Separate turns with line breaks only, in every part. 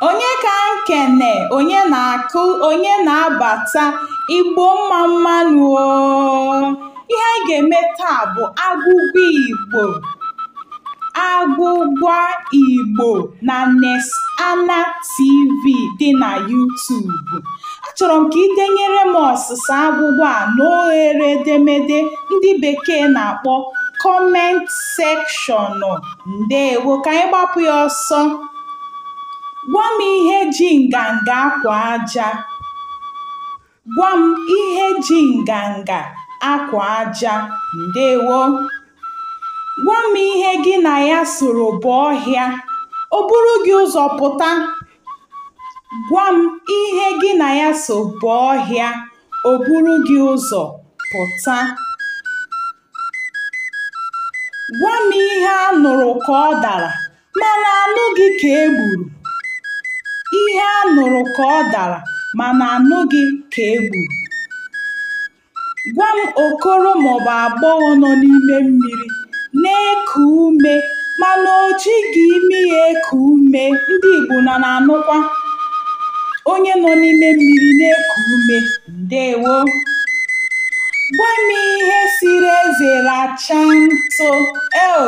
onye ka m kene onye na-apụ onye na-abata igbo mmamma nụ ihe anyị ga-eme taa bụ agwụgwa igbo Agwụgwa Igbo na Nesana TV dị na YouTube. Achọrọ m ka i denyere m ọsịsa agwụgwa a n'oghere edemede ndị Bekee na-akpọ comment section. Ndewo, ka anyị gbapụ ya ọsọ. Gwa m ihe ji nganga akwa aja. Gwa m ihe ji nganga akwa aja ndewo gwa m ihe gị na ya soro baa ọhịa o buru gị ụzọ pụta gwa m ihe gị na ya so baa ọhịa o buru gị ụzọ pụta gwa m ihe a nụrụ ka ọ dara Mana anụghị ka e gburu. Ihe a nụrụ ka ọ dara mana anụghị ka e gburu. Gwa m okoro maọbụ agbọghọ nọ n'ime mmiri na-eku ume mana o jighị imi ya eku ume ndị Igbo unu ana-anụkwa onye nọ n'ime mmiri na-eku ume ndewo gwa m ihe sịrị eze rachaa ntụ eo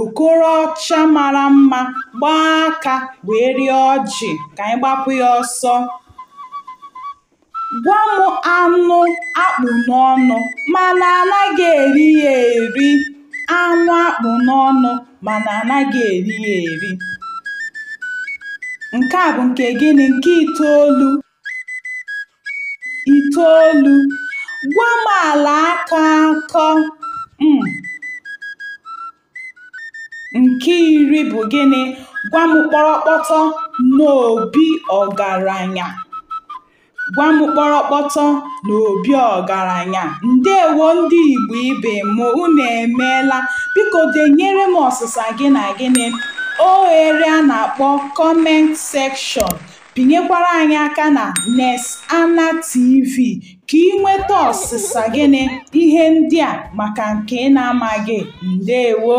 Okoro ọcha mara mma gbaa aka wee rịa ọjị ka anyị gbapụ ya ọsọ. Gwa m anụ a kpụ n'ọnụ mana anaghị eri ya eri. Anụ a kpụ n'ọnụ mana anaghị eri ya eri. Nke a bụ nke gịnị? Nke itoolu. itoolu gwa m ala aka akọ um nke iri bụ gịnị gwa m kpọrọkpọtọ n'obi ọgaranya gwa m kpọrọkpọtọ n'obi ọgaranya ndewo ndị igbo ibe m unu emeela biko denyere m ọsịsa gị na gịnị oghere a na-akpọ comment section Pịnyekwara anyị aka na Nesana TV ka i nweta ọsịsa gị na ihe ndị a maka nke ị na-amaghị. Ndewo!